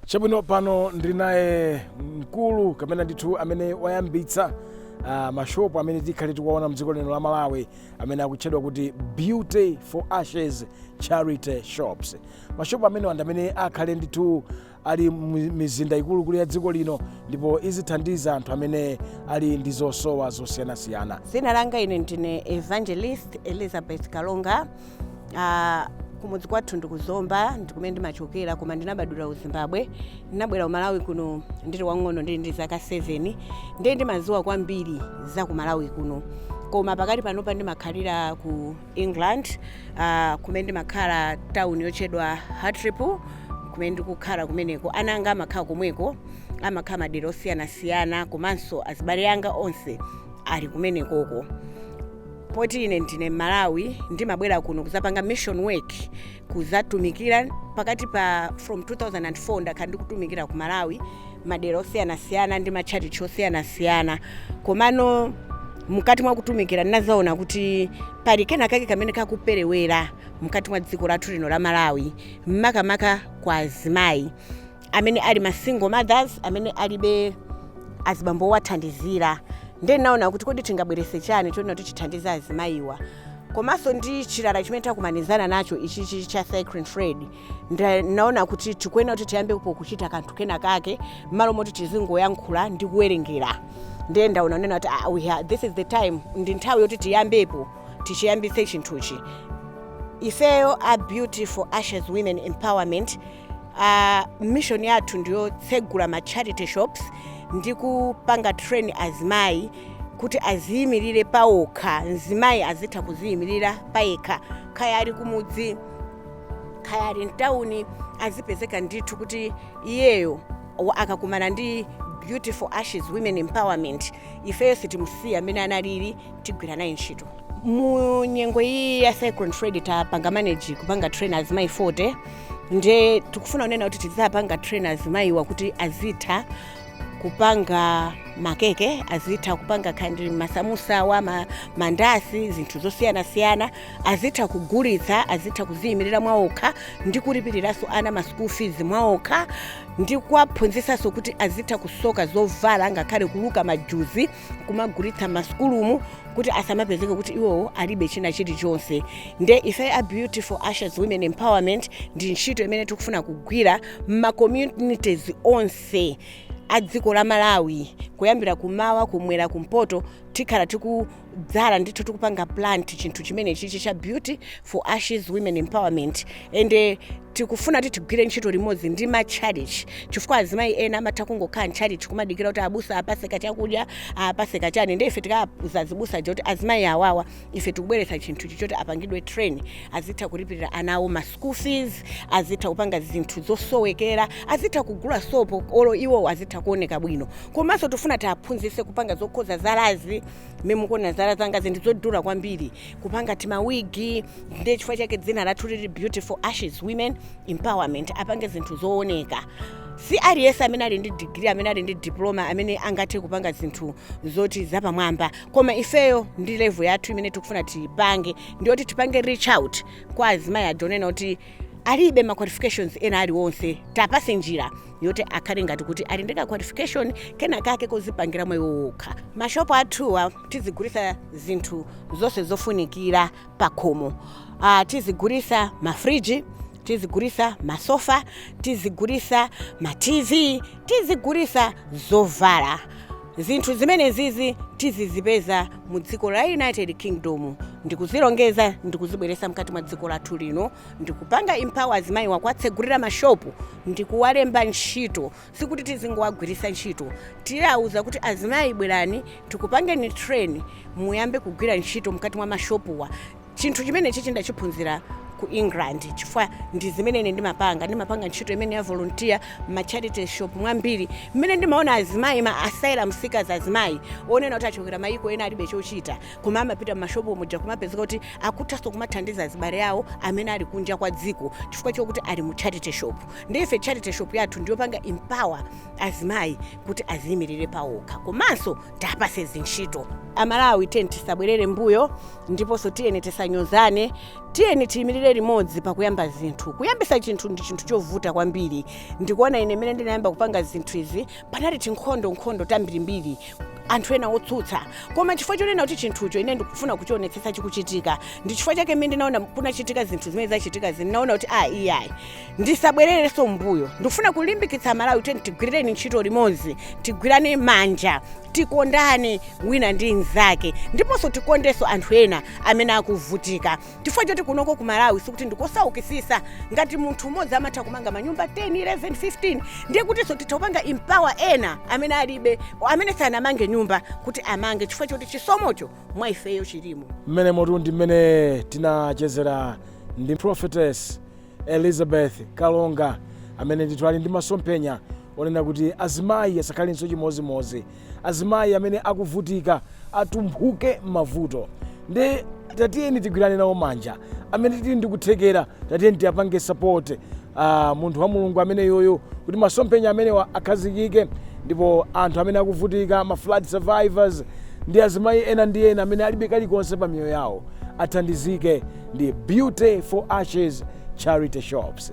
Chabwino, pano ndili naye mkulu kapena ndithu amene wayambitsa uh, mashopu amene tikhale tikuwaona mdziko lino la Malawi amene akutchedwa kuti Beauty for Ashes Charity Shops. Mashopu amenewa ndi amene akhale ndithu ali mi- mizinda ikuluikulu ya dziko lino ndipo izithandiza anthu amene ali ndi zosowa zosiyanasiyana. Dzina langa ine ndine Evangelist Elizabeth Kalonga Ah, kumudzi kwathu ndi ku Zomba ndikumene ndimachokera koma ndinabadwira ku Zimbabwe ndinabwera ku Malawi kuno ndili wang'ono ndili ndi zaka 7 ndiye ndimadziwa kwambiri za ku Malawi kuno koma pakati panopa ndimakhalira ku England ah, kumene ndimakhala town yotchedwa Hartlepool kumene ndikukhala kumeneko ana anga amakhala komweko amakhala madera osiyanasiyana komanso azibale anga onse ali kumenekoko poti ine ndine Mmalawi ndimabwera kuno kuzapanga mission work kuzatumikira pakati pa from 2004 ndakhala ndikutumikira ku Malawi madera osiyanasiyana ndi matchalitchi osiyanasiyana komano mkati mwa kutumikira ndinazaona kuti pali kena kake kamene kakuperewera mkati mwa dziko lathu lino la Malawi makamaka kwa azimayi amene ali ma single mothers amene alibe azibambo owathandizira ndiye naona kuti kodi tingabweretse chani chonena kuti chithandize azimayiwa komanso ndi chilala chimene takumanizana nacho ichichi cha Cyclone Freddy nda- naona kuti tikuyenera kuti tiyambepo kuchita kanthu kena kake mmalo moti tizingoyankhula ndi kuwerengera ndiye ndaona kunena kuti ah, we ha- this is the time ndi nthawi yoti tiyambepo tichiyambitse chinthuchi ifeyo a Beauty for Ashes Women Empowerment uh, mission yathu ndiyotsegula ma charity shops ndi kupanga train azimayi kuti aziyimirire pawokha mzimayi azitha kuziyimirira payekha kaya ali kumudzi kaya ali mtawuni azipezeka ndithu kuti iyeyo wa- akakumana ndi Beauty for Ashes Women Empowerment ifeyo sitimusiya amene analili tigwira naye ntchito mu nyengo iyi ya Cyclone Freddy tapanga manage kupanga train azimayi 40 nde tikufuna kunena kuti tidzapanga train azimayiwa kuti azitha kupanga makeke azitha kupanga kandi masamusawa ma, mandasi zinthu zosiyanasiyana azitha kugulitsa azitha kuziyimirira mwaokha ndi kulipiriranso ana ma school fees mwaokha ndi kuwaphunzitsanso kuti azitha kusoka zovala ngakhale kuluka majuzi kumagulitsa mmasukulumu kuti asamapezeke kuti iwowo alibe china chilichonse nde ife a Beauty for Ashes Women Empowerment ndi ntchito imene tikufuna kugwira m'macommunities onse a dziko la Malawi kuyambira kumawa kumwera kumpoto tikhala tikudzala ndithu tikupanga plant chinthu chimenechichi cha Beauty for Ashes Women Empowerment ende tikufuna kuti tigwire ntchito limodzi ndi matchalichi chifukwa azimayi ena amatha kungokhala ntchalichi kumadikira kuti abusa apase kachakudya apase kachani nde ife tikauza azibusa aja kuti azimayi awawa ife tikubweretsa chinthu ichi choti apangidwe train azitha kulipirira ana awo ma school fees azitha kupanga zinthu zosowekera azitha kugula sopo olo iwowo azitha kuoneka bwino komanso tifuna tiaphunzitse kupanga zokhoza zalazi mmene mukuona zala zanga zinthu zodula kwambiri kupanga timawigi ndiye chifukwa chake dzina lathu lili beauty for ashes women empowerment apange zinthu zooneka si aliyense amene ali ndi digiri amene ali ndi diploma amene angathe kupanga zinthu zoti zapamwamba koma ifeyo ndi level yathu imene tikufuna tipange ndiyoti tipange reach out kwa azimayi aja onena kuti alibe ma qualifications ena aliwonse tapase njira yoti akhale ngati kuti ali ndi ka qualification kena kake kozipangira mwa iwo okha mashopu athuwa tizigulisa zinthu zonse zofunikira pakhomo uh, tizigulisa mafriji tizigulisa masofa tizigulisa ma tv tizigulisa zovala zinthu zimenezizi tizizipeza mu dziko la united kingdom ndikuzilongeza ndikuzibweresa mkati mwa dziko lathu lino ndikupanga empower azimayiwa kuwatsegulira mashopu ndikuwalemba ntchito sikuti tizingowagwiritsa ntchito tiyawuza kuti azimayi bwerani tikupangeni train muyambe kugwira ntchito mkati mwa mashopuwa chinthu chimenechi chindachiphunzira ku england chifukwa ndi zimene ine ndimapanga ndimapanga ntchito imeneyi ya volunteer ma charity shop mwambiri mmene ndimaona azimayi ma asylum seekers azimayi onena kuti achokera mayiko ena alibe chochita koma amapita m'mashopu muja kumapezeka kuti akuthanso kumathandiza azibale awo amene ali kunja kwa dziko chifukwa chokuti ali mu charity shop ndi ife charity shop yathu ndiyopanga empower azimayi kuti aziyimirire pawokha komanso tapase zintchito amalawi tiyeni tisabwerere mbuyo ndiponso tiyeni tisanyozane tiyeni tiyimirire limodzi pakuyamba zinthu kuyambisa chinthu ndi chinthu chovuta kwambiri ndikuona ine mmene ndinayamba kupanga zinthu izi panali tinkhondo nkhondo tambirimbiri anthu ena otsutsa koma chifukwa chonena kuti chinthucho ine ndikufuna kuchionetsetsa chikuchitika ndi chifukwa chake mmene ndinaona kunachitika zinthu zimene zachitika izi ndinaona kuti a iyayi ndisabwererenso mbuyo ndikufuna kulimbikitsa amalawi kuti tigwirireni ntchito limodzi tigwirane manja tikondane wina ndi mnzake ndiponso tikondenso anthu ena amene akuvutika chifukwa choti kunoko ku malawi sikuti ndikosaukisisa ngati munthu umodzi amatha kumanga manyumba 10 11 15 ndiye kutinso titha kupanga empower ena amene alibe amene sanamange nyumba kuti amange chifukwa choti chisomocho mwa ifeyo chilimo mmenemotu ndi mmene tinachezera ndi prophetess elizabeth kalonga amene ndithu ali ndi masomphenya onena kuti azimayi asakhalenso chimozimozi azimayi amene akuvutika atumphuke mmavuto nde tatiyeni tigwirane nawo manja amene tili ndi kuthekera tatiyeni tiapange support aah munthu wa mulungu ameneyuyu kuti masomphenya amenewa akhazikike ndipo anthu amene akuvutika ma flood survivors ndi azimayi ena ndi ena amene alibe kalikonse pa miyoyo yawo athandizike ndi beauty for ashes charity shops.